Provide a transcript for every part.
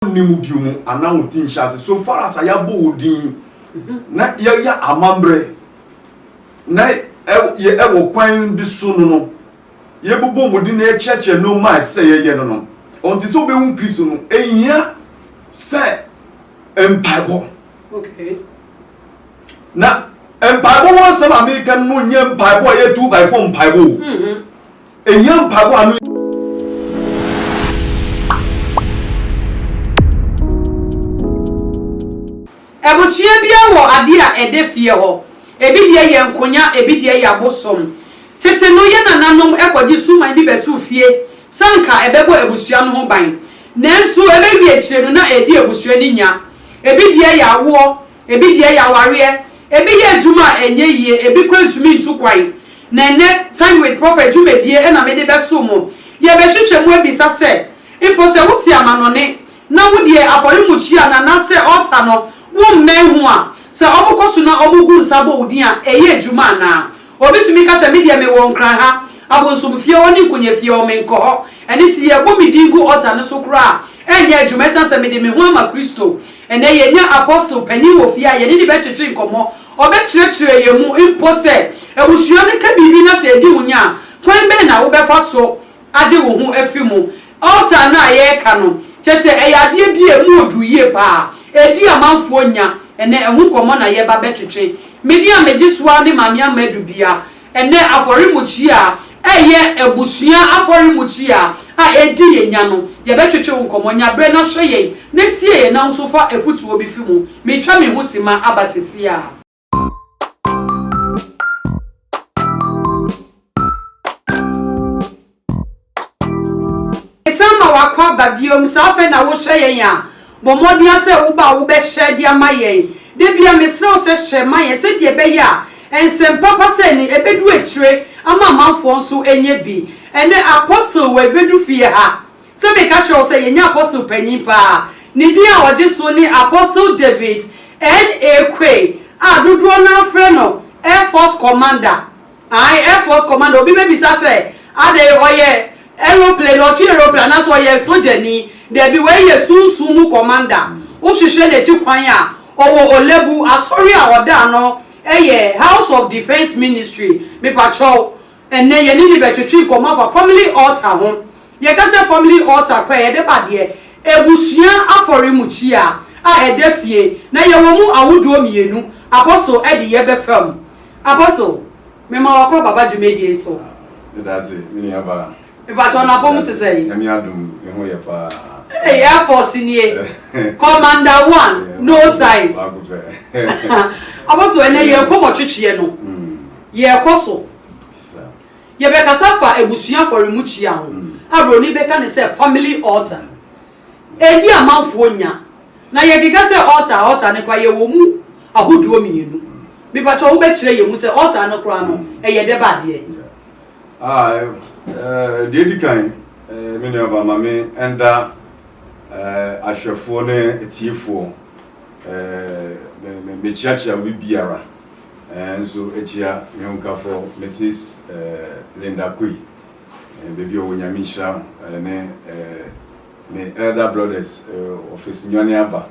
nni mu bio mu anaa wo ti nhyɛ ase so far as a yɛabɔ wo din na yɛyɛ amammerɛ na ɛwɔ kwan bi so no no yɛbobɔ mmɔden na yɛkyerɛkyerɛ nneɛma a ɛsɛ yɛyɛ no no ɔnte sɛ wobɛhu kristo no ɛhia sɛ mpaebɔ na mpaebɔ ho asɛm a meka no nyɛ mpaebɔ a yɛtu by fo mpaebɔ mm-hmm. Ɛhia mpaebɔ a ano. Abusua biara wɔ adeɛ a ɛda fie hɔ. Ebi deɛ yɛ nkonya, ebi deɛ yɛ abosom. Tete no, yɛn nananom kɔgye suman bi bɛtoo fie sɛ anka ɛbɛbɔ abusua no ho ban. Nanso ɛbɛwie akyire no, na ɛredi abusua no nya. Ebi deɛ yɛ awoɔ. Ebi deɛ yɛ awareɛ, ebi yɛ adwuma a ɛnyɛ yie, ebi koraa ntumi ntu kwan. Na ɛnnɛ, Time with Prophet dwumadie na mede bɛso mo. Yɛbɛhwehwɛ mu abisa sɛ, mpo sɛ wote amanɔne na wo deɛ afɔremukyia no anaasɛ altar no wommɛn ho a, sɛ wɔkɔ so na wɔgu nsa bɔ wo din a, ɛyɛ adwuma anaa? Obi tumi ka sɛ, Me deɛ mewɔ Nkran ha, abonsomfie hɔ ne nkonyaafie hɔ, menkɔ hɔ. Ɛno nti, yɛrebɔ me din gu ɔta no so koraa a, ɛrenyɛ adwuma ɛsiane sɛ mede me ho ama Kristo. Ɛnnɛ, yɛanya Apostle panin wɔ fie a yɛne no bɛtwetwe nkɔmmɔ. Ɔbɛkyerɛkyerɛ yɛn mu mpo sɛ abusua no ka biribi na sɛ ɛdi wo nya a, kwan bɛn na wobɛfa so agye wo ho afi mu. Altar no a yɛreka no, kyerɛ sɛ ɛyɛ adeɛ bi a ɛmu ɔduru yie pa ara. Ɛdi amanfoɔ nya. Ɛnnɛ ɛho nkɔmmɔ na yɛreba bɛtwetwe. Me deɛ a megye so ara ne Maame Ama Adu Bia. Ɛnnɛ afɔremukyia a ɛyɛ abusua afɔremukyia a ɛdi yɛn nya no, yɛbɛtwetwe wo nkɔmmɔ. Nya berɛ na hwɛ yɛn na tie yɛn na wo nso fa afutuo bi fi mu. Meretwa me ho simma aba seesei ara. san ma wakɔ aba biom saa afei na wohyɛ yɛn a bɔ mmɔden a sɛ woba a wobɛhyɛ de ama yɛn da bia mesrɛ wo sɛ hyɛ ma yɛn sɛdeɛ ɛbɛyɛ a ɛnsɛm papa sɛ ni ɛbɛdu akyire ama amanfoɔ nso ɛnyɛ bi ɛnɛ apostle wɔ ɛbɛdu fie ha Sɛ meka kyerɛ wo sɛ yɛnya apostle panyin paa, ne din a ɔgye so ne Apostle David N. A. Quaye a dodoɔ no ara frɛ no Air Force Commander. Ae, Air Force Commander. Obi bɛbisa sɛ, adɛn, ɔyɛ aeroplane, ɔtwe aeroplane, anaasɛ ɔyɛ sogyani? Daabi, wei yɛ sunsum mu commander. Wohwehwɛ n'akyi kwan a, ɔwɔ Olebu, asɔre a ɔda ano yɛ House of Defence Ministry. Mepakyɛw. Ɛnnɛ, yɛne no bɛtwetwe nkɔmmɔ afa Family Altar ho. Yɛka sɛ Family Altar kɔ a, yɛde ba deɛ Abusua Afɔremukyia a ɛda fie na yɛwɔ mu ahodoɔ mmienu, Apostle adeyɛ bɛfa mu. Apostle, mema wo akɔ ababa dwumadie yi so. Meda ase, me nua baa. Mepakyɛ wo, n'apɔmu te sɛn? Nyame adom, ne ho yɛ paa. Ei, Air Force nie. Commander one, no size. Baako pɛ. Apostle, ɛnnɛ yɛn nkɔmmɔtwetweɛ no, Yɛrekɔ so. Yɛbɛkasa afa abusua afɔremukyia ho a buroni bɛka no sɛ family altar. Ɛdi amanfoɔ nya. Na yɛkeka sɛ altar a altar no koraa yɛwɔ mu ahodoɔ mmienu. Mepakyɛw wobɛkyerɛ yɛn mu sɛ altar no koraa no ɛyɛ dɛ ba adeɛ? Deɛ ɛdi kan me nuaba ma me nda ahwɛfoɔ ne atiefoɔ me kyeakyea obi biara. nso akyia me hokafo Misis Linda Koi baabi a ɔwɔ Nyame nhyira no ne me Elder Brothers Office Nwane Aba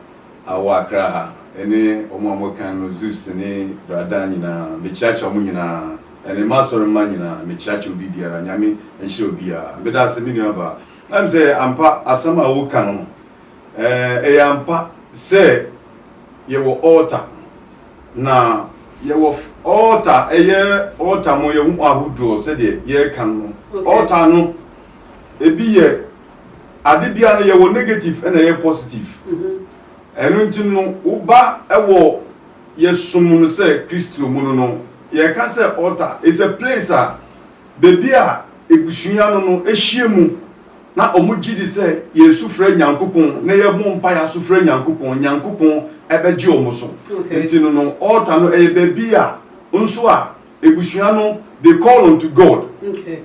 a ɔwɔ Accra ha ne wɔn a wɔka no Zeus ne Bra Dan nyinaa mekyiakyia wɔn nyinaa ne m'asɔre mma nyinaa mekyiakyia obi biara Nyame nhyira obiara meda ase me nua baa ɛm sɛ ampa asɛm a woka no ɛyɛ ampa sɛ yɛwɔ altar na yɛwɔ altar ɛyɛ altar mu yɛ ho ahodoɔ sɛdeɛ yɛreka no altar no ebi yɛ ade bia no yɛwɔ negative ɛna ɛyɛ positive ɛno nti no woba ɛwɔ yɛsom no sɛ kristo mu no no yɛka sɛ altar is a place a baabi a ebusua no no ehyia mu Na ɔmo gye di sɛ yɛn su frɛ Nyankopɔn na yɛ bɔ mpae aso frɛ Nyankopɔn, Nyankopɔn bɛgye ɔmo so. Nti no no altar no ɛyɛ baabi a nso a ebusua no they call unto God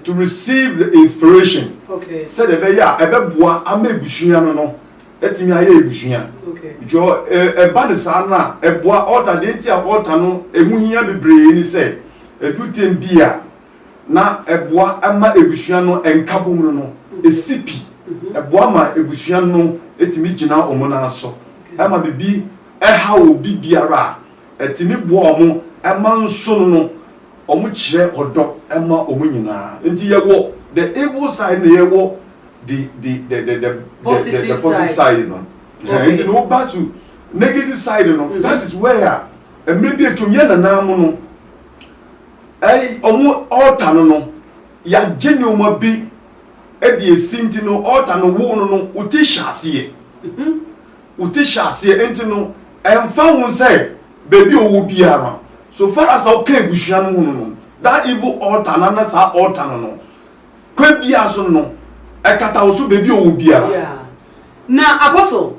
to receive the inspiration sɛdeɛ ɛbɛyɛ a ɛbɛboa ama ebusua no no atumi ayɛ ebusua. Because ɛba no saa no a ɛboa altar deɛ nti a altar no ɛho hia bebree ne sɛ ɛduru tem bi a. na ɛboa ma abusua no nkabom no no si pi. Ɛboa ma abusua no tumi gyina wɔn nan so ma biribi haw obi biara a, ɛtumi boa wɔn ma nso no no, wɔkyerɛ ɔdɔ ma wɔn nyinaa. Nti yɛwɔ the evil side na yɛwɔ the the the the the positive side no. Nti no back to negative side no, that is where mmerɛ bi atwam yɛn nanaa mo no, Ɛɛ, wɔn altar no no, yɛagye nneɛma bi de asi nti no, altar no woo no no, wo ti hyɛ aseɛ. Wo ti hyɛ aseɛ nti no, ɛmfa ho sɛ baabi a ɔwɔ biara, so far as sɛ woka abusua no ho no no, that evil altar no anaa saa altar no no, Kwa biara so no, ɛkata wo so baabi a ɔwɔ biara. Yeah. Na apostle,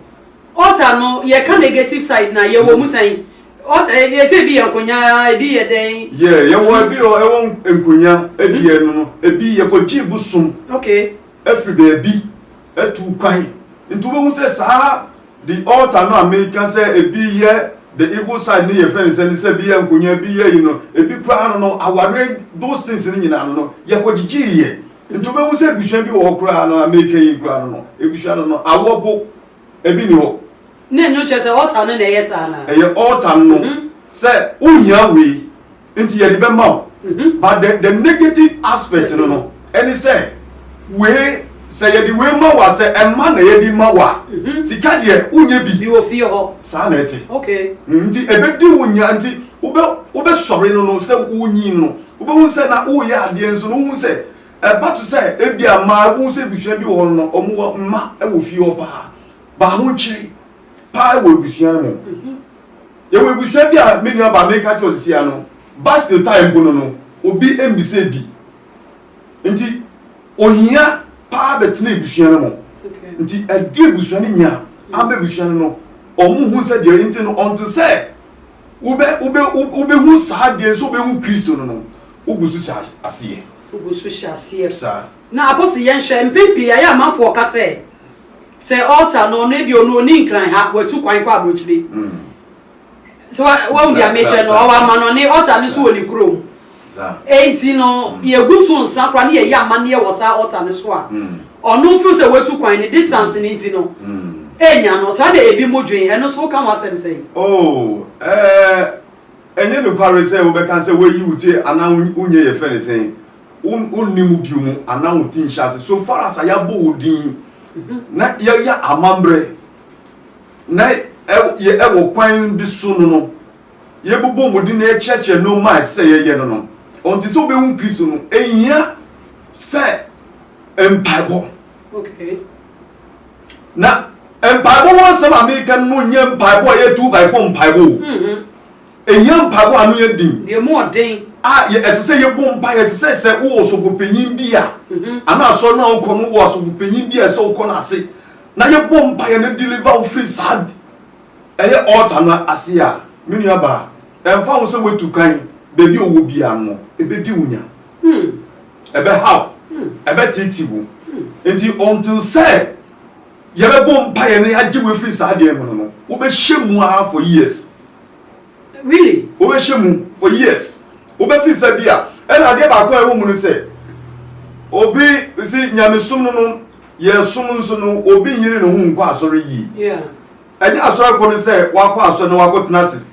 altar no yɛka negative side na yɛwɔ mu sɛn? Altar eh, yɛsɛ ebi yɛ nkonya, ebi yɛ dɛn? Yeah, yɛwɔ mm-hmm. ebi wɔ ɛwɔ nkonya, ebi yɛ no no, ebi yɛkɔgye bosom. Okay. Ɛfiri baabi. atu kwan. Nti wobɛhu sɛ saa the altar no a meka sɛ ebi yɛ the evil side no yɛfrɛ no sɛ ne sɛ ebi yɛ nkonwa ebi yɛ yi no ebi koraa no no awareɛ those things no nyinaa no no yɛkɔgyegyeeɛ nti wobɛhu sɛ abusua bi wɔ hɔ koraa no a meka yi koraa no no abusua no no awɔ bo ebi ni hɔ na ɛno kyerɛ sɛ altar no na ɛyɛ saa na ɛyɛ altar no mhm. sɛ wohia wei Nti yɛde bɛma wo but the the negative aspect no no ɛne sɛ wei sɛ yɛde wei ma wo a sɛ ɛma na yɛde ma wo a sika deɛ wonyɛ bi Bi wɔ fie hɔ. saa na ɛte Okay. Mm, nti ɛbɛdi wo nya nti wobɛ wobɛsɔre no no sɛ wonyin no wobɛhu sɛ na woyɛ adeɛ nso no wohu sɛ ɛba to sɛ ebia mmaa wohu sɛ abusua bi wɔ hɔ no no wɔn wɔ mma wɔ fie hɔ paa baa ho nkyere paa wɔ ebusua no mu. Yɛwɔ ebusua bi a me nua baa meka kyerɛ ɔsisi ano, bus no tae mpo no no, obi mbisa bi. Nti, ohia paa bɛtena ebusua no mu. Nti, ɛde ebusua no nya ama ebusua no no, ɔmo hu sɛ deɛ nti no, ɔnto sɛ wobɛ, wobɛ, wobehu saa deɛ sɛ wobehu Kristo no no, wogu so hyɛ aseɛ. Wogu so hyɛ aseɛ. Saa. Na Abosy yɛnhwɛ, mpɛn pii ayɛ amanfoɔ ɔka sɛ, sɛ altar no ɔno ebia ɔno ɔni nkran ha, watu kwan kɔ abrokyire. So wahu deɛ mekyerɛ no, ɔwɔ amanɔne, altar no nso wɔ ne kurom. Enti no yɛgu so nsa koraa ne yɛyɛ amanneɛ wɔ saa altar no so a, ɔno feel sɛ watu kwan, ne distance no nti no, ɛnya no. Saa na ebi mo dwen, ɛno nso woka ho asɛm sɛn? Oh, eh, ɛnyɛ nokware sɛ wobɛka sɛ wayi wo ti anaa wonyɛ yɛfrɛ no sɛn, wonni mu bio mu anaa wo ti nhyɛ ase. So far as a yɛabɔ wo din na yɛyɛ amammerɛ na ɛwɔ kwan bi so no no, yɛbobɔ mmɔden na yɛkyerɛkyerɛ nnoɔma a ɛsɛ sɛ yɛyɛ no no, ɔnte sɛ wobɛhu Kristo no, ɛhia sɛ mpaebɔ. Okay. Na mpaebɔ ho asɛm a meka no nyɛ mpaebɔ a ɛyɛ two by four mpaebɔ o. Mm-hmm. Ehia mpaebɔ a ano yɛ den. Deɛ emu yɛ den. A ɛsɛ sɛ yɛbɔ mpaeɛ. Ɛsɛ sɛ sɛ wowɔ ɔsɔfopanyin bi a, mm-hmm. anaa asɔre no a wokɔ no wɔ asɔfopanyin bi a ɛsɛ wokɔ no ase na yɛbɔ mpaeɛ no deliver wo firi saa ɛyɛ altar no ase a me nua baa ɛmfa ho sɛ woatu kan baabi a ɔwɔ biara no ɛbɛdi wo nya hmm. ɛbɛhaw hmm. ɛbɛtete wo hmm. nti until sɛ yɛbɛbɔ mpaeɛ no yɛagye wo afiri saa deɛ mu no no wobɛhyɛ mu ara for years Really? Wobɛhyɛ mu for years. Wobɛfi nsa bi a. Ɛna adeɛ baako a ɛwɔ mu no sɛ, obi si nyamesom no no yɛsom nso no obi nyere ne ho nkɔ asɔre yie. Yeah. Ɛnyɛ asɔre kɔ no sɛ wakɔ asɔre na wakɔ tena ase.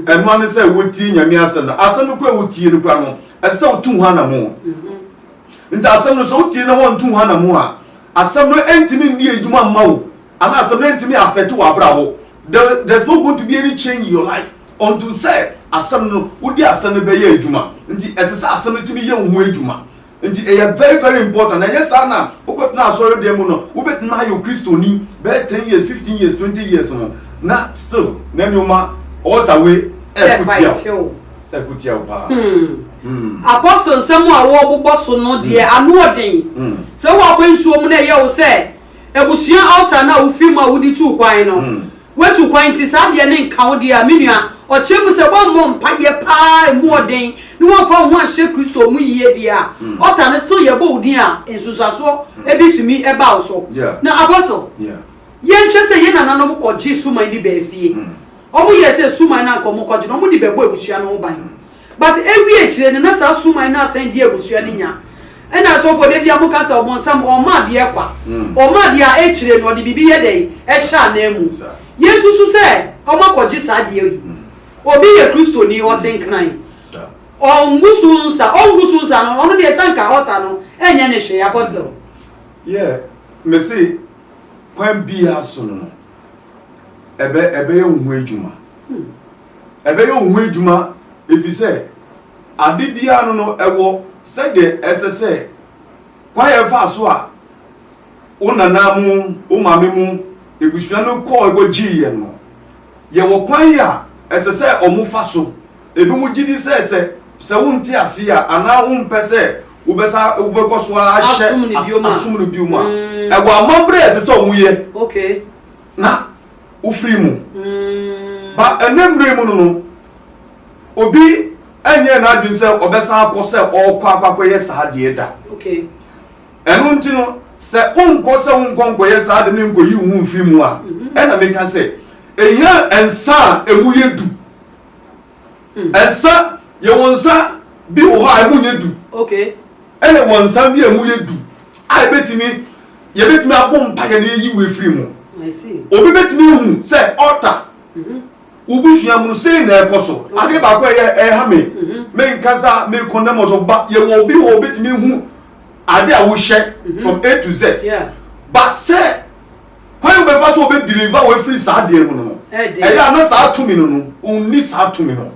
Ɛnoa no sɛ wotie nyame asɛm no. Asɛm no kora wotie no kora no ɛsɛ sɛ wotu ho anamo. Mm-hmm. Nti asɛm no sɛ wotie na wɔntu ho anamo a asɛm no ɛntumi nni adwuma mma wo anaa asɛm no ɛntumi afɛte wɔ abrabɔ. there there's no going to be any change in your life until sɛ asɛm no wode asɛm no bɛyɛ adwuma nti ɛsɛ sɛ asɛm no tumi yɛ wo ho adwuma nti ɛyɛ very very important na ɛyɛ saa na wokɔtena asɔre dan mu no wobɛtumi ayɛ kristoni bɛyɛ ten years fifteen years twenty years no na still na nneɛma ɔɔta we ɛkutia wo ɛkutia wo paa. Hmm. Hmm. apɔsol nsɛm a wɔbobɔ so no deɛ hmm. ano ɔden hmm. sɛ woakwantuo mu na ɛyɛ wo sɛ Abusua altar no a wofii mu a wode tuu kwan no, woatu kwan nti saa deɛ no nka wo deɛ a, me nua, ɔkyerɛ mu sɛ woammɔ mpaeɛ paa ɛmu ɔden na woamfa wo ho anhyɛ Kristo mu yie deɛ a, altar no still yɛbɔ wo din a, nsunsuansoɔ bi tumi ba wo so. Na Apostle, yɛnhwɛ sɛ yɛn nananom kɔgye suman bi baa fie. Wɔyɛɛ sɛ suman no a anka wɔkɔgye no, wɔde bɛbɔ abusua no ho ban. But ewie akyire no na saa suman no asan di abusua no nya. Ɛna asɔfoɔ da biara mo ka sɛ ɔbonsam ɔma adeɛ kwa. Ɔma adeɛ a akyire no ɔde biribi yɛ dɛn? Ɛhyɛ anan mu. Yɛn susu sɛ ɔmo akɔ gye saa adeɛ yi. Obi yɛ Kristoni ɔte nkran. Ɔngu so nsa, ɔngu so nsa no ɔno deɛ sɛ anka altar no ɛnyɛ no hwee Apostle. Yeah, me se kwan biara so no no ɛbɛ ɛbɛyɛ wo ho adwuma. ɛbɛyɛ wo ho adwuma efisɛ ade biara no no ɛwɔ sɛdeɛ ɛsɛ sɛ kwan a ɛfaa so a wo nana mo wo maame mo ebusua no kɔɔ kɔ gyee yɛn no yɛwɔ kwan a ɛsɛ sɛ ɔmo fa so ebi mo gye di sɛ sɛ sɛ wo nte ase a anaa wo mpɛ sɛ wo bɛ sa wo bɛ kɔ so a hyɛ asom no bio mu a ɛwɔ amambrɛ ɛsɛ sɛ ɔmo yɛ na. wofiri mu ba ɛnɛ mmerɛ mu no no obi ɛnyɛ n'adwene sɛ ɔbɛsan akɔ sɛ ɔrekɔ akɔkɔyɛ saa deɛ da ɛno nti no sɛ wonkɔ sɛ wonkɔ nkɔyɛ saa de ne nkɔyi wo ho mfiri mu a ɛna meka sɛ ɛhia nsa a ɛmu yɛ du Nsa, yɛwɔ nsa bi wɔ hɔ a ɛmu nyɛ du. Ɛna ɛwɔ nsa bi a ɛmu yɛ du a yɛbɛtumi yɛbɛtumi abɔ mpaeɛ na yɛyi wo afiri mu. Obi bɛtumi ahu sɛ ɔta mhm. wo busua mu sei na ɛkɔ so. Adeɛ baako a ɛyɛ ɛha me mhm. menka sɛ mekɔndɛm wɔ so ba yɛwɔ obi wɔ obɛtumi hu adeɛ a wohyɛ mhm. from A to Z. But sɛ kwan a ɔbɛfa so ɔbɛdeliver wo afiri saa adeɛ no no ɛyɛ a na saa tumi no no ɔnni saa tumi no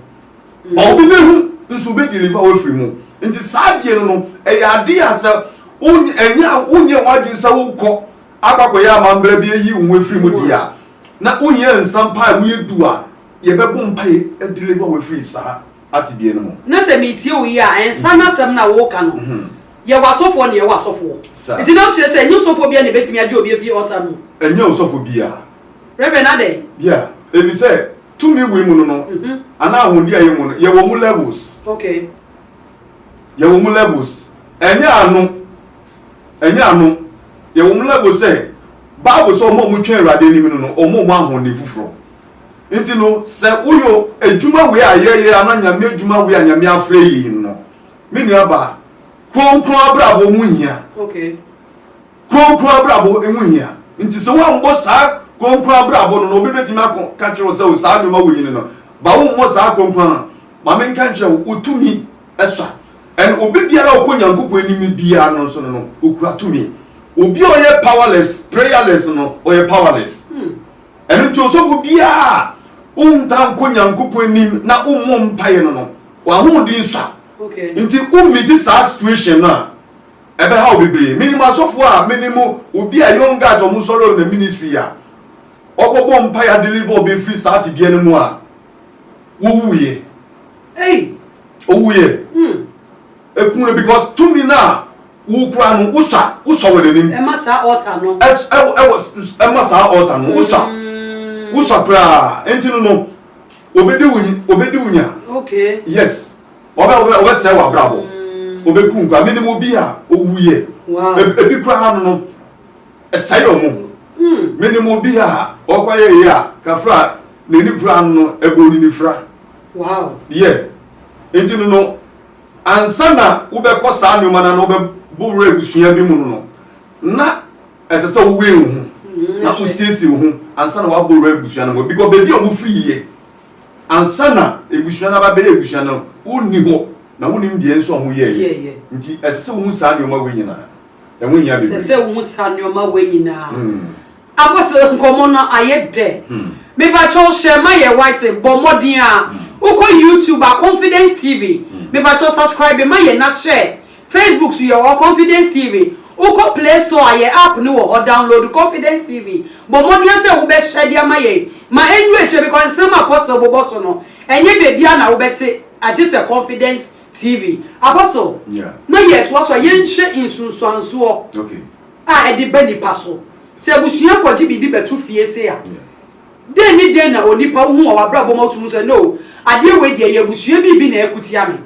ba obi bɛhu nso ɔbɛdeliver wo afiri mu nti saa adeɛ no no ɛyɛ adeɛ a sɛ ɛnyɛ a wonyɛ w'adwene sɛ wokɔ akɔakɔyɛ amambra bi ayi wo ho afiri mu deɛ a na wohia nsa mpa a woyɛ du a yɛbɛbɔ mpa yɛ adeliver wo afiri saa atebea no mu. Na sɛ metie wo yi a nsa no asɛm na woka no mhm. Yɛ wɔ asɔfoɔ neɛ ɛwɔ asɔfoɔ Sir. Nti na wokyerɛ sɛ ɛnyɛ osɔfoɔ biara na ɛbɛtumi agye obi afiri altar no mu? Ɛnyɛ osɔfo biara. Reverend adɛn? Yeah, efisɛ tumi wei mu no no anaa ahoɔden a ɛyɛ mu no yɛwɔ mu levels. Okay. Yɛwɔ mu levels. Ɛnyɛ ano. Ɛnyɛ ano. Yɛwɔ mu levels sɛ Bible sɛ wɔn a wɔtwɛn Awurade anim no no wɔwɔ mu ahoɔden foforɔ. Nti no sɛ woyɔ adwuma wei a yɛyɛ anaa Nyame adwuma wei a Nyame afrɛ yɛn no Me nua baa, kronkron abrabɔ mu hia. Okay. Kronkron abrabɔ emu hia. Nti sɛ woambɔ saa kronkron abrabɔ no na obi betumi akɔ ka kyerɛ wo sɛ o saa nneɛma wɔ yi no no, ba wommɔ saa kronkron no. Ma menka nkyerɛ wo, wo tumi sua. And obi biara a ɔkɔ Nyankopɔn anim biara no nso no no, okura tumi. Obi a ɔyɛ powerless, prayerless no, ɔyɛ powerless. Hmm. Ɛno nti ɔsɔfo biara a ɔntaa nkɔ Nyankopɔn anim na ɔmmɔ mpaeɛ no no, w'ahoɔden sua. Nti wo meeti saa situation no a, ɛbɛha wo bebree. Menim asɔfoɔ a me ne mo, obi a young guys ɔmo sɔre ɔnam ministry a, ɔkɔbɔ mpaeɛ a deliver ɔbɛ firi saa tebea no mu a, ɔwuiɛ. Ɔwuiɛ. Ekum no because tumi no a wokura no wosɔ a wosɔ wɔ n'anim. Ɛma saa altar no. Ɛs ɛwɔ ɛwɔ ɛma saa altar no wosɔ a wosɔ koraa nti no no obedi wo nyi obedi wo nya. Okay. Yes ɔbɛ ɔbɛ ɔbɛsɛe w'abrabɔ ɔbɛku nkwa menim obi a owuiɛ Wow. Eb- ebi koraa no no ɛsɛe ɔmo menim obi a ɔkɔyɛ yɛ a kafra n'ani koraa no no ɛbɔ ne nifira Wow. yɛ nti no no Ansa na wobɛkɔ saa nneɛma no ano wobɛbɔ wura abusua bi mu no, na ɛsɛ sɛ wowɛn wo ho na wosiesie wo ho ansa na woabɔ wura abusua no mu. Bikɔ baabi a wofiri yɛ ansa na abusua no aba abɛyɛ abusua no, wonni hɔ na wonim deɛ nso a wɔyɛeɛ. Nti ɛsɛ sɛ wohu saa nneɛma wei nyinaa. Ɛho hia bebree. Ɛsɛ sɛ wohu saa nneɛma wei nyinaa. Apostle nkɔmmɔ no ayɛ dɛ. Mepakyɛw hyɛ ma yɛ white bɔ mmɔden a wokɔ YouTube a confidence TV mepakyɛw subscribe ma yɛ na hyɛ Facebook so yɛ wɔ confidence TV wokɔ play store a yɛ app no wɔ hɔ download confidence TV bɔ mmɔden sɛ wobɛhyɛ de ama yɛn ma ɛndu akyire because nsɛm a apostle bobɔ so no ɛnyɛ baabiara na wobɛte agye sɛ confidence TV apostle na yɛtoa so a yɛnhyɛ nsunsuansoɔ. a ɛde ba nnipa so. Sɛ abusua kɔgye biribi bɛto fie sei a, dɛn ne dɛn na onipa wohu wɔ w'abrabɔ mu a wotumi hu sɛ, No, adeɛ wei deɛ, ɛyɛ abusua biribi na ɛreko tia me?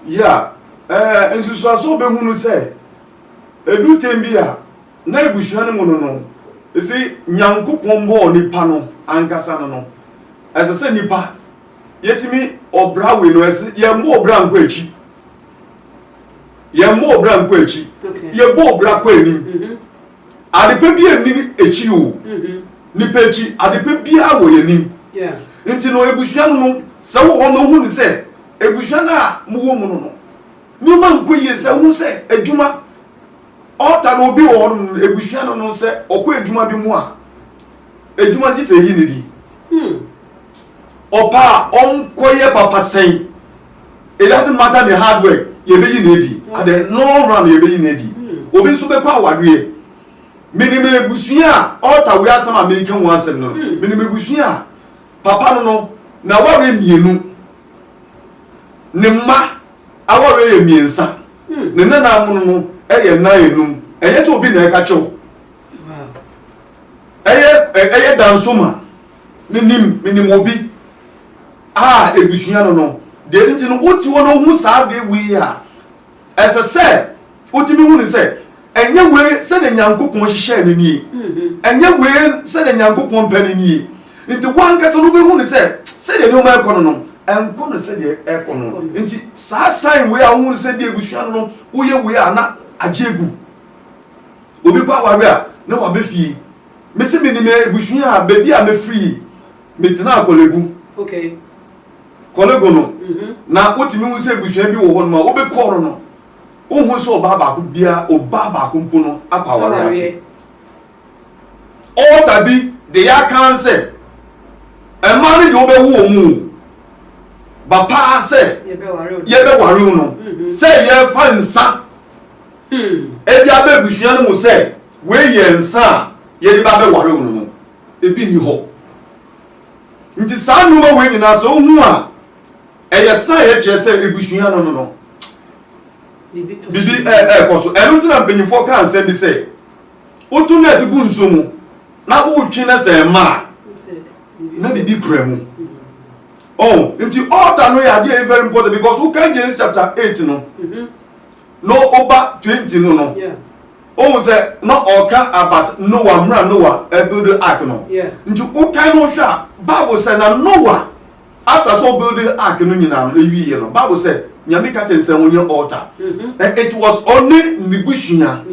Yeah, nsusuaso a wobɛhu no sɛ, ɛdu tɛm bi a, na abusua no mu no no, you see, Nyankopɔn bɔɔ nipa no ankasa no no, ɛsɛ sɛ nipa, yɛtumi, ɔbra wei no, yɛmmɔ ɔbra nkɔ akyi. yɛn mmɔɔ bra nkɔ akyi yɛ bɔɔ bra kɔ anim mm-hmm. adepa bi anim akyi o mm-hmm. nipa akyi adepa biara wɔ yɛn anim nti no ebusua no no sɛ wɔ hɔ no ho ne sɛ ebusua no a mo wɔ mu no no nneɛma nkɔ yie sɛ ho sɛ adwuma ɔta no obi wɔ hɔ no ebusua no no sɛ ɔkɔ adwuma bi mu a adwuma no gye sɛ eyi ne di. Hmm. ɔpɛ a ɔnkɔyɛ papa sɛn it doesn't matter the hard work yɛbɛyi no adi at the long run yɛbɛyi no adi obi nso bɛkɔ awadeɛ menim abusua a ɔta wei asɛm a meka ho asɛm no menim abusua a papa no no na ware mmienu ne mma aware yɛ mmiɛnsa ne nana mono no yɛ nan enum ɛnyɛ sɛ obi na ɛka kyɛw ɛyɛ ɛyɛ danso ma Menim, menim obi a ebusua no no. Deɛ nti no, wote hɔ na wohu saa adeɛ wei a, ɛsɛ sɛ wotumi hu no sɛ, ɛnyɛ wei sɛdeɛ Nyankopɔn hyehyɛɛ no nie. Ɛnyɛ wei sɛdeɛ Nyankopɔn pɛ no nie. Nti woankasa no wobɛhu no sɛ, sɛdeɛ nneɛma ɛkɔ no no, ɛnkɔ no sɛdeɛ ɛkɔ no. Nti saa sign wei a wohu no sɛ deɛ ebusua no no woyɛ wei a na agye agu. Obi kɔ aware a, na waba fie. Me se menim ebusua a baabi a mefiri yi me tenaa kɔlegu okay kɔlegu no mm -hmm. na wotumi hu sɛ ebusua bi wɔ hɔ nom a wobɛkɔ no no wohu sɛ ɔbaa baako bia ɔbaa baako mpo no akɔ awareɛ ase ɔɔta bi de yɛ akan sɛ ɛma no de wobɛwo wɔ mu ba paa sɛ yɛbɛware wo no mm-hmm. sɛ yɛfa nsa mm. ebi abɛ abusua no mu sɛ Wei yɛ nsa a yɛde ba bɛware wo no no, ebi nni hɔ. Nti saa nnoɔma wei nyinaa sɛ wohu a, ɛyɛ sign ɛkyerɛ sɛ abusua no no no, biribi ɛɛkɔ so. Ɛno nti na mpanyinfoɔ kaa nsɛm bi sɛ, woto net gu nsuo mu na wotwe na sɛ ɛma a, na biribi kura mu. Oh, nti altar no yɛ adeɛ ɛyɛ very important because wokan Genesis chapter eight no na ɔba twenty no no. Wohu sɛ na ɔka about Noah mmerɛ Noah ɛbuilde ark no nti wokan no hwɛ a bible sɛ na Noah after sɛ ɔbuilde ark no nyinaa no ɛwieɛ no bible sɛ Nyame ka kyerɛ no sɛ ɔnyɛ altar and it was ɔne ne busua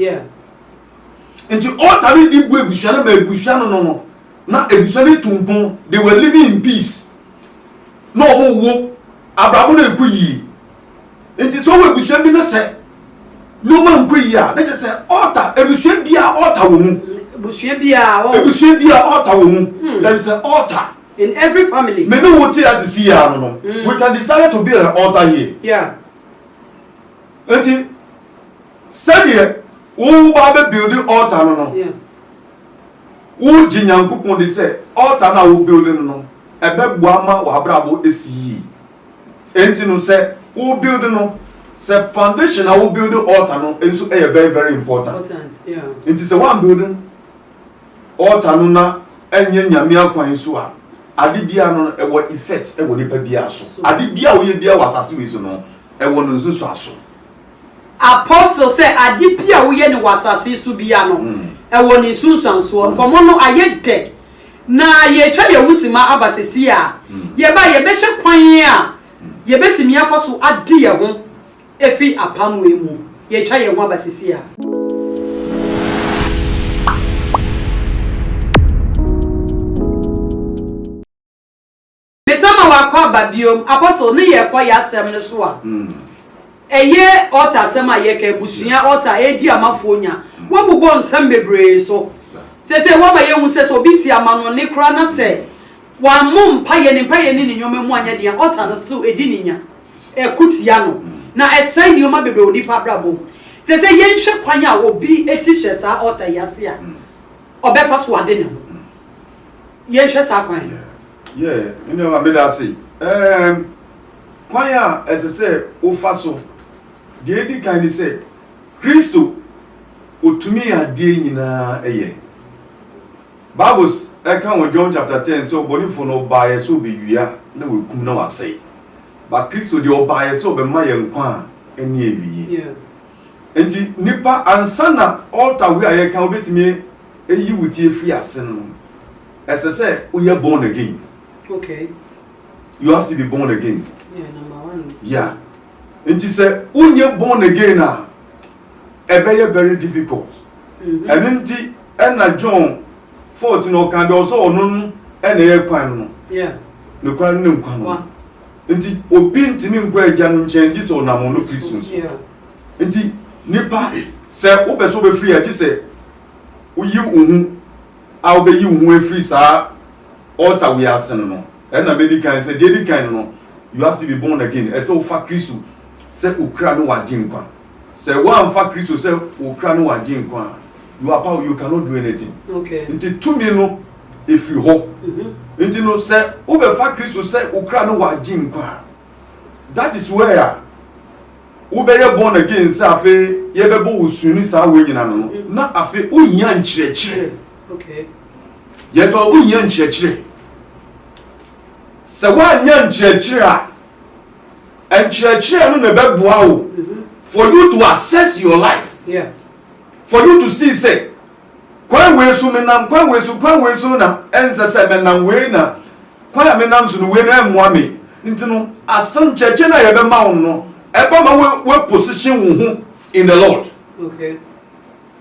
nti altar no di bu abusua no ma abusua no no no na abusua no tu mpon they were living in peace na ɔmo wo abrabɔ no ɛkɔ yie. Nti sɛ ɔwɔ abusua bi na sɛ nneɛma nkɔ yie a, na kyerɛ sɛ ɔɔta abusua bi a ɔɔta wɔ mu. Abusua bi a ɔɔ. Abusua bi a ɔɔta wɔ mu. Hmm. There is an altar. In every family. Me ne wo te ase si yɛ ano no. Hmm. We can decide to build an altar here. Yeah. Nti sɛdeɛ wo ba bɛ build altar no no. Yeah. wogye nyankopɔn de sɛ ɔta no a wobuild no no ɛbɛboa ma w'abrabɔ ɛsi yie Enti no sɛ wo build no sɛ foundation na wo build altar no nso ɛyɛ very very important. Nti sɛ wan build altar no na ɛnyɛ nyame akwan so a ade bia no ɛwɔ effect ɛwɔ nipa bia so. Ade bia woyɛ bia wɔ asase wei so no ɛwɔ no nsusuaso. Apostle sɛ ade bi a woyɛ no wɔ asase yi so biara no, ɛwɔ ne nsunsuansoɔ. Nkɔmmɔ no ayɛ dɛ, na yɛretwa yɛn ho simma aba seesei a yɛba a yɛbɛhwɛ kwan a yɛbɛtumi afa so ade yɛn ho afiri apam wei mu. Yɛretwa yɛn ho aba seesei a. Mesa ma wakɔ aba biom. Apostle ne yɛ kɔ ya sɛm no so a ɛyɛ altar asɛm a yɛ ka abusua altar edi ama foɔ nya wa bobɔ nsɛm bebree so sɛsɛ wa ma yɛ hu sɛ sɛ obi te amanɔne kora na sɛ wa mo mpa yɛ ne mpa yɛ ne ne nneɛma mu anyɛ den a altar no so edi ne nya ɛko tia no na ɛsɛe nneɛma bebree wɔ nipa abrabɔ mu sɛsɛ yɛ nhwɛ kwan a obi eti hyɛ saa altar yi ase a ɔbɛfa so ade ne ho. yɛnhwɛ saa kwan no. Yeah, me nua meda ase. Um, kwan a ɛsɛ sɛ wofa so. Deɛ edi kan ne sɛ, Kristo otumi adeɛ nyinaa yɛ. Bibles ɛka wɔ John chapter ten sɛ ɔbɔnefo no ɔbaeɛ sɛ ɔbɛwia na wakum na wasɛe. Ba Kristo deɛ ɔbaeɛ sɛ ɔbɛma yɛn nkwa a ɛne awie. Yeah. Nti nipa ansa na altar wei a yɛka wobɛtumi ayi wo ti afiri ase no no, ɛsɛ sɛ woyɛ born again. Okay. You have to be born again. Yeah, number one. Yeah. Nti sɛ wonyɛ born again a, ɛbɛyɛ very difficult. Mm-hmm. Ɛno nti ɛna John 14 ɔka deɛ ɔsɛ ɔno no ɛna ɛyɛ kwan no. Yeah. Ne kwan no ne nkwa no. Enti obi ntumi nkɔ Agya no nkyɛn gye sɛ ɔnam ɔno Kristo so. Enti nnipa, sɛ wopɛ sɛ wobɛfiri a, gye sɛ woyi wo ho a wobɛyi wo ho afiri saa altar wei ase no no. Ɛna mɛdi kan sɛ, deɛ ɛdi kan no no, you have to be born again. Ɛsɛ sɛ wofa Kristo sɛ Okura ne w'Agyenkwa. Sɛ woamfa Kristo sɛ wo kra ne w'agyenkwa a, you are power, you cannot do anything. Nti tumi no ɛfiri hɔ. Nti no sɛ wobɛfa Kristo sɛ wo kra ne w'agyenkwa a, that is where a wobɛyɛ born again sɛ afei yɛbɛbɔ wo su ne saa wei nyina no no, na afei wohia nkyerɛkyerɛ. Yɛtɔ wohia nkyerɛkyerɛ. Sɛ woannya nkyerɛkyerɛ a. Nkyerɛkyerɛ no na ɛbɛboa wo for you to assess your life, for you to see sɛ kwan wei so menam, kwan wei so, kwan wei so na ɛnsɛ sɛ menam wei na kwan a menam so no wei no ɛmmoa me. Nti no asɛm nkyerɛkyerɛ no a yɛbɛma wo no ɛbɛma wo wo position wo ho in the Lord.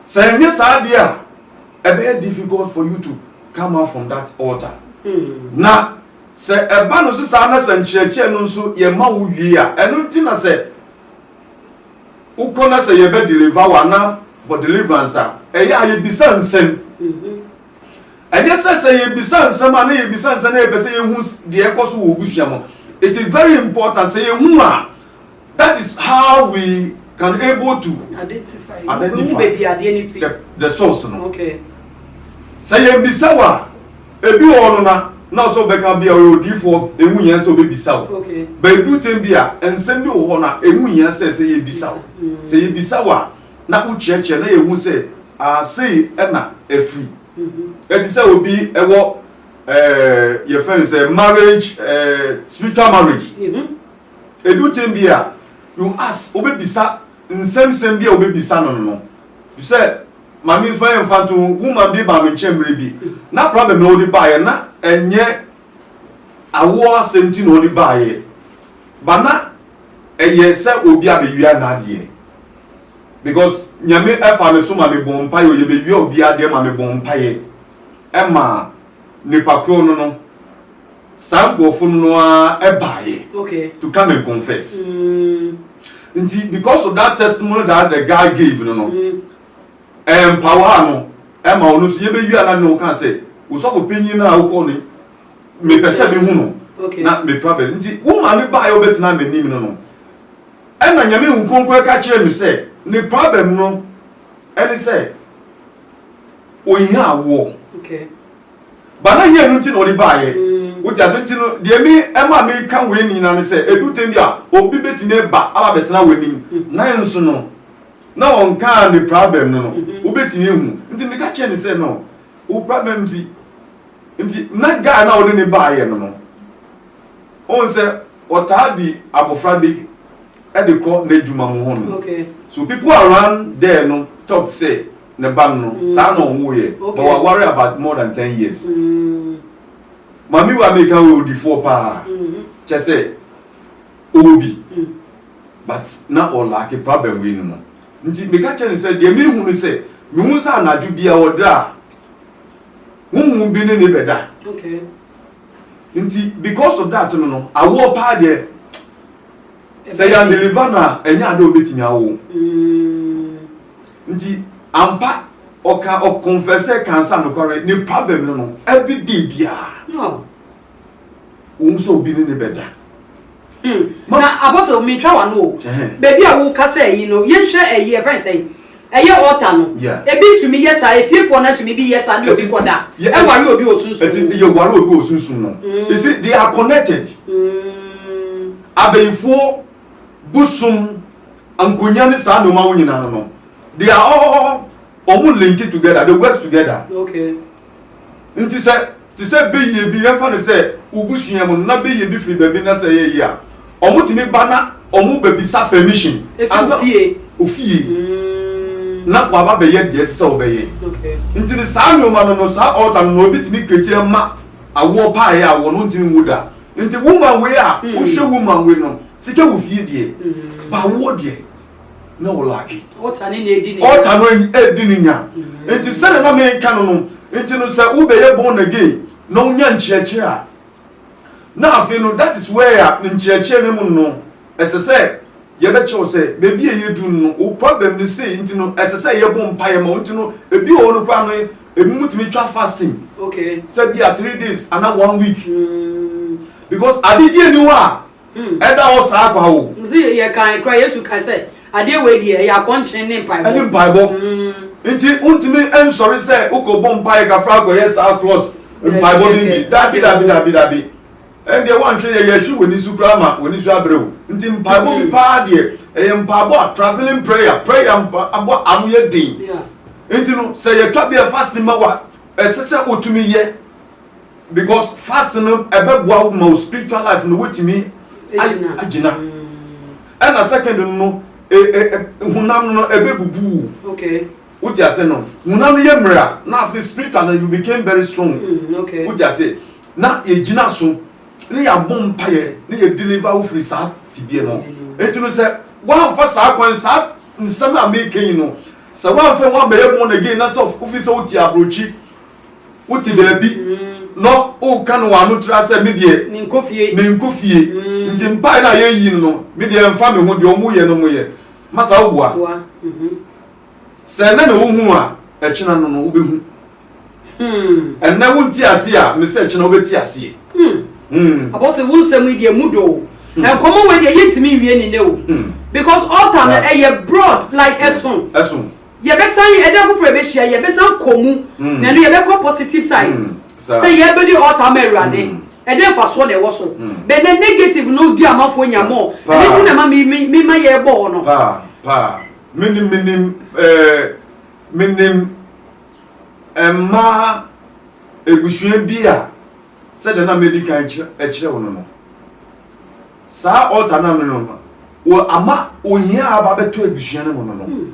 Sɛ ɛnyɛ saa deɛ a ɛbɛyɛ difficult for you to come out from that altar. Na Sɛ ɛba no so saa na sɛ nkyerɛkyerɛ no nso yɛ ma wo wie a, ɛno nti na sɛ wokɔ na sɛ yɛbɛ deliver wo anaa for deliverance a, ɛyɛ a yɛbisa nsɛm. Ɛnyɛ sɛ sɛ yɛbisa nsɛm a na yɛbisa nsɛm na yɛpɛ sɛ yɛhu deɛ ɛkɔ so wɔ w'abusua mu. It is very important sɛ yɛhu a That is how we can able to identify, identify the, the source no. Okay. Sɛ yɛn bisa wa ebi wɔ hɔ no na na ɔsɛ ɔbɛka bi a ɔyɛ odiifoɔ ehu hia sɛ ɔbɛbisa wo okay. baabi tɛm bi a nsɛm bi wɔ hɔ na ehu hia sɛ sɛ yɛbisa wo mm. sɛ yɛbisa wo a na wokyerɛkyerɛ na yɛhu sɛ asei ɛna afiri mm-hmm. ɛte sɛ obi ɛwɔ ɛɛ yɛfɛ no sɛ marriage ɛɛ spiritual marriage. Mm -hmm. Edu tem bi a, you ask, wobɛbisa nsɛmsɛm bi a wobɛbisa no no. Bi sɛ, Maame mfa yɛ mfa nto ho, woman bi baa me nkyɛn mmerɛ bi, na problem na ɔde baeɛ, na ɛnyɛ awoɔ asɛm nti na ɔde baeɛ, ba na ɛyɛ sɛ obi abɛwia n'adeɛ. Because Nyame ɛfa me so ma me bɔɔ mpaeɛ, ɔyɛ bɛwia obi adeɛ ma me bɔɔ mpaeɛ ma nipa korɔ no no, Saa nkurɔfo no no ara baeɛ Okay. to come and confess. Nti because of that testimony that the guy gave no no, ɛmpawaa no ɛma ɔno nso yɛbɛwie a na ne woka sɛ osɔfo panyin no a wokɔɔ no mepɛ sɛ mehu no Okay. na mepra bɛ nti wo maame baeɛ wobɛtena m'anim no no ɛna nyame hu kronkron ɛka kyerɛ me sɛ ne problem no ɛne sɛ ɔhia awoɔ Okay. Ba na hia no nti na ɔde baeɛ. Wote ase? Nti no, deɛ me ɛma meka wei nyinaa ne sɛ, ɛdu tɛm bi a, obi bɛtumi aba aba abɛtena w'anim, nanso no, na ɔnkaa ne prabɛm no no, wobɛtumi ahu. Nti meka kyerɛɛ no sɛ, no, wo prabɛm nti, nti na guy no a wode no baeɛ no no, wohu sɛ ɔtaa di abɔfra bi de kɔ n'adwuma mu hɔ nom. So people around there no thought sɛ, Ne ba no mm. saa na ɔwoo yɛ okay. but waware about more than ten years mm. maame wa mi ka wɔ odifoɔ paa mm-hmm. kyɛ sɛ ɔwɔ bi mm. but na ɔlaake problem wei no no nti meka kyɛ ne sɛ deɛ mehu no sɛ mehu sɛ anadwo bia ɔdra a honhom bi ne ne bɛda okay. nti because of that no no awoɔ paa deɛ sɛ yɛn deliver no a ɛnyɛ ade a wobɛtumi awo mm. Nti ampa ɔka ɔkonfɛsɛ ka nsa nokware ne problem no no every day biara wɔn sɛ obi ne ne bɛda. Hmm. Na apostle mi twa wa no o. Baby a wo ka sɛ yi no yɛn hwɛ ɛyi ɛfɛn e sɛ yi ɛyɛ e altar no. Ebi ntumi yɛ saa efiefoɔ na ntumi bi yɛ saa ne obi kɔ da ɛware e obi wɔ sunsun. Ɛti yɛ ware obi wɔ sunsun no. You see they are connected. Hmm. Abɛyifoɔ bosom Ankonya ne saa nnoɔma wo nyinaa no they are all ɔmo link together they work together okay nti sɛ te sɛ beyie bi yɛmfa no sɛ wo busua mu no na beyie bi firi baabi na sɛ yɛyɛ a ɔmo tumi ba na ɔmo bɛbisa permission ansa ofie mm. na waba bɛyɛ deɛ ɛsɛ sɛ wɔbɛyɛ okay. nti no saa nnoɔma no no saa ɔɔta no na obi tumi kreti ma awoɔ paeɛ a wɔn ntumi nwu da nti woman wei a hmm. wohwɛ woman wei no Sika wɔ fie deɛ, ba woɔ deɛ na wo laake. Ɔta ne na edi ne nya. Ɔta no edi ne nya. Nti sɛdeɛ na meka no no, nti no sɛ wobɛyɛ born again na wonya nkyerɛkyerɛ a, na afei no that is where a nkyerɛkyerɛ no mu no ɛsɛ sɛ yɛbɛkyerɛ wo sɛ baabi a yɛdu no no wo problem no sei nti no ɛsɛ sɛ yɛbɔ mpaeɛ ma wo nti no ebi wɔ hɔ no koraa no ebi mu tumi twa fasting sɛ bi a three days ana one week because adedeɛ ni hɔ a Ɛda hɔ saa kwa o. Sɛ yɛkae koraa, Yesu kae sɛ, Adeɛ wei deɛ, ɛyɛ akɔnkyen ne mpaebɔ. Ɛne mpaebɔ. Nti wontumi nsɔre sɛ wokɔbɔ mpaeɛ kakra akɔyɛ saa cross mpaebɔ no bi. Dabi, dabi, dabi, dabi. Ɛndeɛ woanhwɛ yɛ, yɛhwe w'ani so koraa ma w'ani so abrɛ wo. Nti mpaebɔ bi paa deɛ, ɛyɛ mpaebɔ a travelling prayer, prayer mpaebɔ a ano yɛ den. Nti no, sɛ yɛtwa berɛ fasting ma wo a, ɛsɛ sɛ wotumi yɛ. Because fast no ɛbɛboa wo ma wo spiritual life no wotumi agyina. Ɛna second no no honam no ɛbɛbubu wo. Okay. Wote ase no honam no yɛ mmerɛ a na afei spiritual no you became very strong. Mm, okay. Wote ase na yɛgyina so ne yɛabɔ mpaeɛ ne yɛ deliver wo firi saa tibia no. Enti no sɛ woamfa saa kwan saa nsɛm a meka yi no sɛ woamfa woambɛyɛ born again na sɛ wofi sɛ wote aburokyi Wote baabi na woka no w'ano tra sɛ me deɛ menkɔ fie nti mpaeɛ no a yɛyi no no me deɛ ɛmfa me ho deɛ wɔyɛ no wɔyɛ. Masa wobua? Sɛ ɛnnɛ na wohuu a ɛkyena no no wobɛhu. Ɛnnɛ wonte aseɛ a mesɛ ɛkyena wobɛte aseɛ. Abɔse wo nsɛm yi deɛ emu dɔ o. Nkɔmmɔ wei deɛ yɛntumi nwie ne nnɛ o because altar no ɛyɛ broad like ɛso. Yɛbɛsan yɛ ɛda foforɔ yɛbɛhyia yɛbɛsan kɔ mu na ɛno yɛbɛkɔ positive side sɛ yɛbɛdi altar ama awurade ɛdɛ mfasoɔ na ɛwɔ so bɛ nɛ negative no di amanfoɔ nya mɔɔ ɛno ti na ma me ma yɛ bɔ hɔ no. Paa paa menim menim ɛɛ menim ɛmaa ebusua bi a. sɛdeɛ na madi kan kyerɛ wo no no, saa altar no a me no wɔ ama ohia a aba bɛtɔ abusua no mu no no hmm.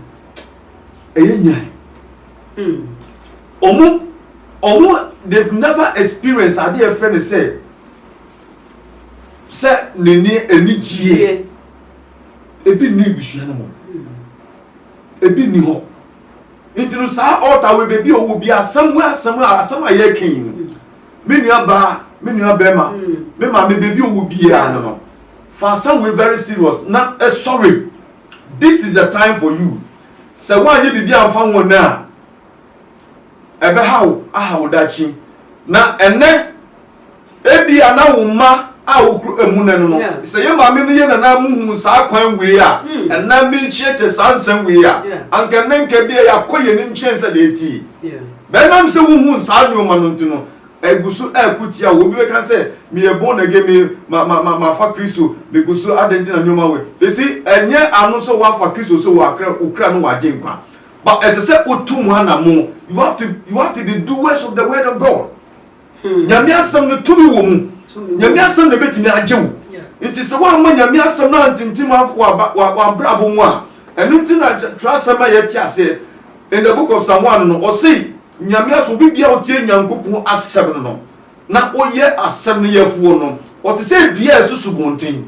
ɛyɛ nyan hmm. ɔmo ɔmo they've never experienced adeɛ ɛfrɛ no sɛ sɛ n'ani ani gyie ebi nni abusua no mu hmm. ebi nni hɔ. Nti no saa altar wei baabi a ɔwɔ bi asɛm wei asɛm a asɛm a yɛreka yi no me nua baa me nua bɛrima me maame baabi a ɔwɔ biara no no fa asɛm wei very serious na ɛsɔre this is the time for you sɛ woanyɛ biribi amfa ho nnɛ a ɛbɛha wo, aha wo daakye. Na ɛnnɛ, ebia na wo mma a wokura emu nnɛ no no, sɛ yɛn maame ne yɛn nana muhuu saa kwan wei a, ɛnnɛ merekyiakyia saa nsɛm wei a, anka ɛnnɛ nka ebia yɛakɔ yɛn anim kyɛn sɛdeɛ ɛte yi. But ɛnam sɛ wohuu saa nneɛma no nti no, ɛgu so ɛreko tia wo. Obi bɛka sɛ, meyɛ born again, me, ma, ma, ma, mafa Kristo, megu so, adɛn nti na nneɛma wei? Ɛsi, ɛnyɛ ano sɛ woafa Kristo sɛ woakra, wokura no wagye nkwa. But ɛsɛ sɛ wo tu mu anamon. You have to you have to be doers of the word of God. Hmm. Nyame asɛm no tumi wɔ mu. Nyame asɛm na ebetumi agye wo. Nti sɛ woamma Nyame asɛm no antintim w'abrabɔ mu a, ɛno nti na twerɛ asɛm a yɛte aseɛ in the book of Psalm 1 no, ɔsei Nyame asɛm obi bia ɔtie Nyankopɔn asɛm no no na ɔyɛ asɛm no yɛfoɔ no, ɔte sɛ dua a ɛso subɔnten.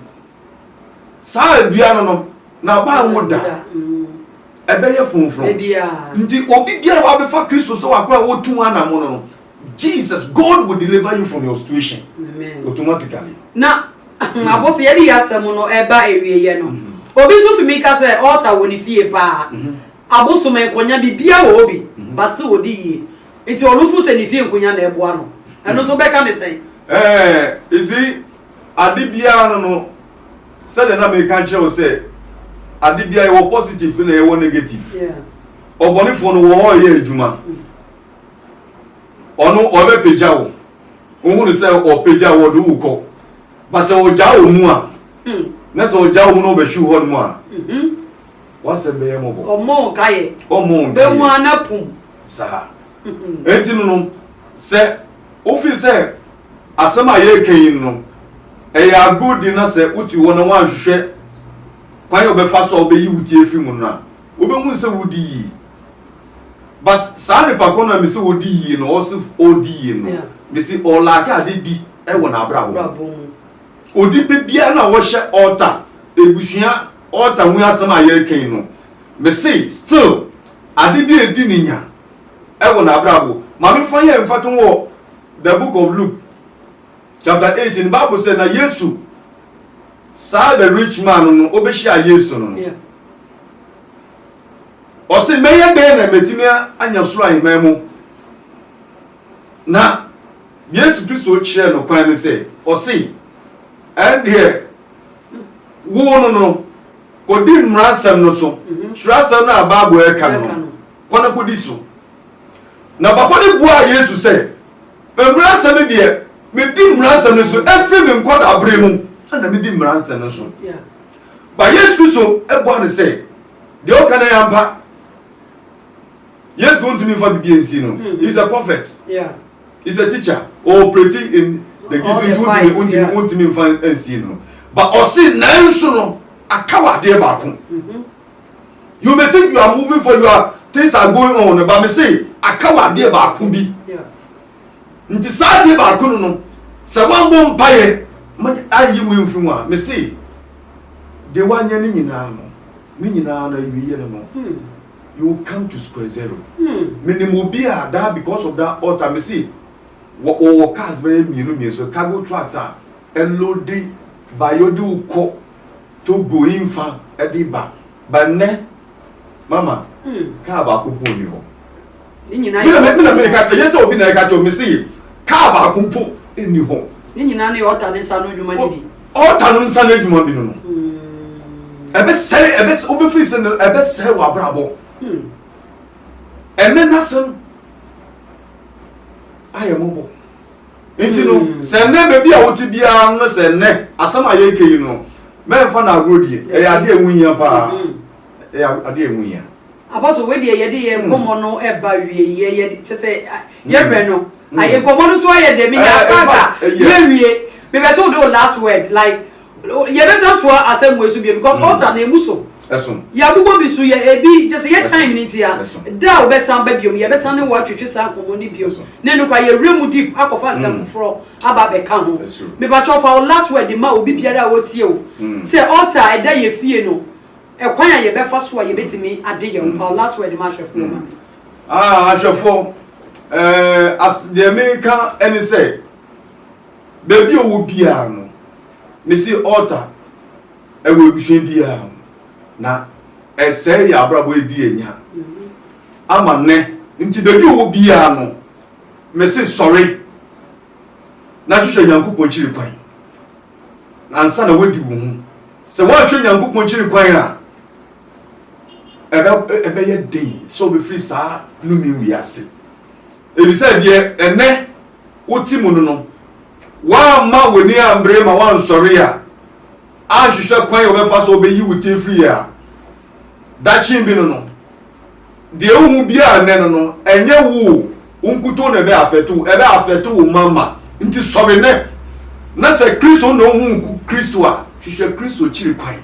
saa dua no no na aba anwo da ɛbɛyɛ fonfron nti obi biara wabɛfa kristo sɛ wakɔ a wotu anamo no no jesus god will deliver you from your situation automatically na hmm. abɔfo yɛde yɛ asɛm no ɛba awieyɛ no hmm. obi nso tumi ka sɛ ɔɔta wɔ ne fie paa hmm. abosom nkonya bibia wɔ hɔ bi ba sɛ wɔde yie nti ɔno fo sɛ ne fie nkonya na ɛboa no ɛno nso bɛka ne sɛn ɛɛ ɛsi Ade biara no no, sɛdeɛ na meka nkyerɛ wo sɛ, ade biara yɛwɔ positive na yɛwɔ negative. Ɔbɔnefoɔ no wɔ hɔ ɔyɛ adwuma. Ɔno ɔbɛpagya wo. Wohunu sɛ ɔpagya wo ɔde wo kɔ. Ba sɛ ɔgya wo mu a, hmm. na sɛ ɔgya wo mu na ɔbɛhwi hɔ nom a, mhm. wasɛm bɛyɛ mmɔbɔ. Ɔmmɔ nkaeɛ. Ɔmmɔ nkaeɛ. Bɛhu anapum. Saa. Mhm. Enti no no, sɛ wofiri sɛ Asɛm a yɛreka yi no, ɛyɛ agorudi na sɛ wote hɔ na woanhwehwɛ kwan a wobɛfa so a wobɛyi wo ti afi mu no a, wobɛhunu sɛ woredi yie. But saa nipa ko no a mese ɔredi yie no, ɔse ɔredi yie no, mese ɔlaake ade di wɔ n'abrabɔ mu. Ɔde bɛ biara no a wɔhyɛ altar, abusua altar ho asɛm a yɛreka yi no, mese still ade bi a ɛdi ne nya wɔ n'abrabɔ. Ma memfa yɛ mfatoho wɔ The Book of Luke chapter eight no Bible sɛ na Yesu saa the rich man no no ɔbɛhyia Yesu no no ɔse mɛyɛ dɛn na mɛtumi anya soro ahemman mu na Yesu Kristo kyerɛ no kwan no sɛ ɔse ɛndeɛ wo no no kɔdi mmaransɛm no so kyerɛ asɛm no a Bible ɛka no kɔ na kɔdi so. Na papa no buaa Yesu sɛ, Mmara nsɛm no deɛ, medi mmara nsɛm no so ɛfiri me nkwadaa berɛ mu na medi mmara nsɛm no so. Ba Yesu Kristo buaa no sɛ, Deɛ woka no yɛ ampa. Yesu wontumi mfa bibia nsi no. Mm-hmm. He's a prophet. Yeah. He's a teacher. Or pretty in the gift wontumi wontumi mfa nsi no. Ba ɔse nanso no akawadeɛ baako. Mm-hmm. You may think you are moving for you are things are going on no ba me se aka wɔ adeɛ baako bi nti saa adeɛ baako no no sɛ wabɔ mpaeɛ ma ayi mu mfiri mu a me se deɛ wanyɛ ne nyinaa no ne nyinaa no awieɛ no no hmm. you will come to square zero hmm. menim obi a daa because of that altar me se wɔwɔ cars bɛyɛ mmienu mmienu so cargo trucks a ɛlode bayɔde wokɔ Togoing fa de ba. But nnɛ, mama, kaa baako mpo nni hɔ. Ne nyinaa yɛ. Me na me ka, ɛyɛ sɛ obi na ɛka kyɛw me se kaa baako mpo nni hɔ. Ne nyinaa no yɛ ɔta ne nsa no adwuma no bi. Ɔta no nsa no adwuma bi no no. Ɛbɛsɛe, ɛbɛsɛ, wobɛfiri sɛ no, ɛbɛsɛe w'abrabɔ. Ɛnɛ n'asɛm ayɛ mmɔbɔ. nti no sɛ nnɛ baabi a wote biara no sɛ nnɛ asɛm a yɛreka yi no mɛmfa no agorɔ die ɛyɛ adeɛ ɛho hia paa ɛyɛ adeɛ ɛho hia abaso wei deɛ yɛde yɛ nkɔmmɔ no ɛba wie yɛ yɛ kyɛ sɛ yɛbrɛ no ayɛ nkɔmmɔ no so ayɛ dɛ me yɛ akasa yɛ wie mebɛ sɛ wode wo last word like Yɛbɛsan atoa asɛm wei so bio because altar no emu so. Ɛso. Yɛabobɔ bi so yɛ ebi gye sɛ yɛ time no ntia. Ɛso. Da a wobɛsan ba biom yɛbɛsan ne wo atwetwe saa nkɔmmɔ no biom. Ɛso. Ne nokwa yɛwura mu deep akɔfa nsɛm foforɔ aba abɛka ho. Ɛso. Mepakyɛw fa wo last word ma obi biara a ɔretie wo sɛ altar a ɛda yɛ fie no ɛkwan a yɛbɛfa so a yɛbɛtumi ade yɛ ho. Fa wo last word ma ahwɛfoɔ ma me. Ah ahwɛfoɔ eh as deɛ meka ɛne sɛ Baabi a ɔwɔ biara no, mese altar ɛwɔ abusua biara ho, na ɛsɛe yɛn abrabɔ, ɛdi yɛn nya ama nnɛ. Nti baabi a ɔwɔ biara no, mese sɔre na hwehwɛ Nyankopɔn kyiri kwan ansa na wadi wo ho. Sɛ woanhwɛ Nyankopɔn kyiri kwan a, ɛbɛyɛ den sɛ wobɛfiri saa nome wei ase, ɛfiri sɛ deɛ ɛnɛ. wote mu no no, woamma w'ani ammere ma woansɔre a, anhwehwɛ kwan a wobɛfa so a wobeyi wo ti afiri yɛ a, dakyee bi no no, deɛ wohu biara nnɛ no no, ɛnyɛ wo o, wo nkutoo na ɛbɛ affect wo, ɛbɛ affect wo mma mma. Nti sɔre nnɛ, na sɛ Kristo na wohu Kristo a, hwehwɛ Kristo kyiri kwan.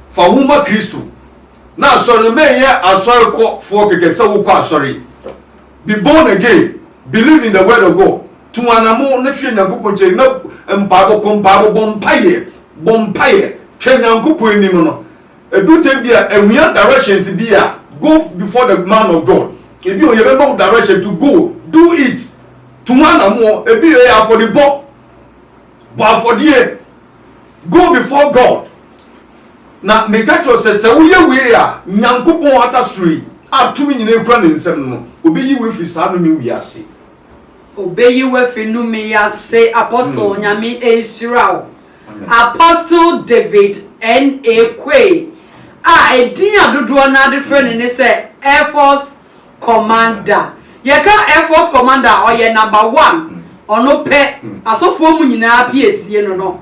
Fa wo ho ma Kristo. Na asɔre no, menyɛ asɔrekɔfoɔ kɛkɛ sɛ wokɔ asɔre. Be born again, believe in the word of God, tu anamon na hwɛ Nyankopɔn nkyɛn na mpaebɔ, kɔ mpaebɔ, bɔ mpaeɛ, bɔ mpaeɛ, twɛn Nyankopɔn anim no. Ɛduru time bi a ɛhia directions bi a, go before the man of God. Ebi o, yɛbɛma wo direction to go, do it, tu ho anamon, ebi o, ɛyɛ afɔdebɔ, bɔ afɔdeɛ, Go before God. Na meka kyerɛ wo sɛ, sɛ woyɛ wei a, Nyankopɔn atasoro yi a tumi nyinaa kura ne nsam no no, obeyi wo afiri saa nnome wei ase. Obeyi wo afiri nnome yi ase, Apostle, Nyame nhyira wo. Amen. Apostle David N. A. Quaye a edin a dodoɔ no ara de frɛ no ne sɛ Air Force commander yɛka air force commander a ɔyɛ number one ɔno pɛ asɔfoɔ mu nyinaa piesie no no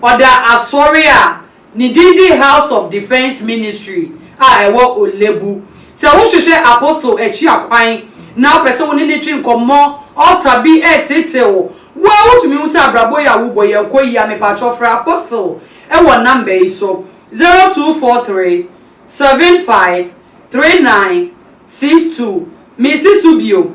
ɔda asɔre a ne din de house of defence ministry a ɛwɔ olebu sɛ wohwehwɛ apostle akyi akwan na wopɛ sɛ wo ne ne twe nkɔmmɔ ɔta bi ɛtete wo wo a wotumi hu sɛ abrabɔ yi a wobɔ yi ɛnkɔ yia mepakyɛw frɛ apostle ɛwɔ number yi so zero two four three seven five three nine six two Misi so bio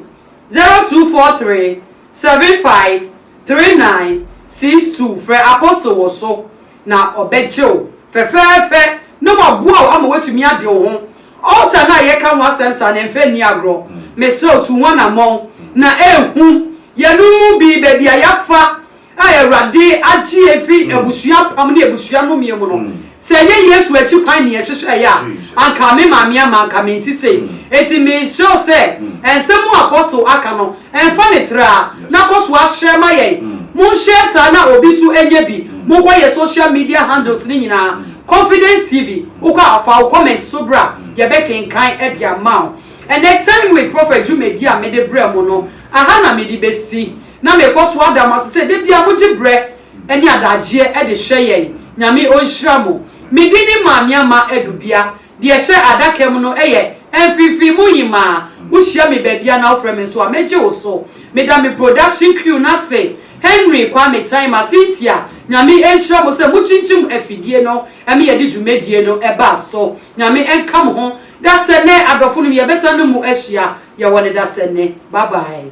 zero two four three seven five three nine six two Frɛ Apostle wɔ so na ɔbɛgye wo fɛfɛɛfɛ na waboa wo ama woatumi ade wo ho. Altar no a yɛka ho asɛm saa no, ɛmfa nni agorɔ. Mesrɛ wo, tu ho anammɔn na ɛnhu. Yɛnom mu bi, baabi a yɛafa A Awurade agye yɛn afi abusua apam ne abusua nnommeɛ mu no, sɛ ɛnyɛ Yesu akyi kwan ne yɛhwehwɛeɛ a, anka me maame ama anka mente sei. Enti meresrɛ wo sɛ, nsɛm a Apostle aka no, mfa no tra, na kɔ so ara hyɛ ma yɛn. Monhyɛ saa na obi nso anya bi. Monkɔ yɛn social media handles no nyinaa, Confidence TV, wokɔ a, fa wo comment nso bra, yɛbɛkenkan de ama wo. Ɛnnɛ Time with Prophet dwumadi a mede brɛ mo no, aha na mede bɛsi. Na mekɔ so ada mo ase sɛ da biara mogye berɛ ne adagyeɛ de hwɛ yɛn. Nyame ɔnhyira mo. Me din ne Maame Ama Adu Bia. Deɛ ɛhyɛ adaka mu no yɛ Mfimfini mu Hemaa. Wohyia me baabiara na wofrɛ me nso a, mɛgye wo so. Meda me production crew no ase, Henry Kwame Taima, Cynthia, Nyame nhyira mo sɛ mokyinkyim afidie no ma yɛde dwumadie no baa so. Nyame nka mo ho. Dasɛ nnɛ adɔfonom yɛbɛsan ne mu ahyia. Yɛwɔ no da sɛ nnɛ. Bye bye.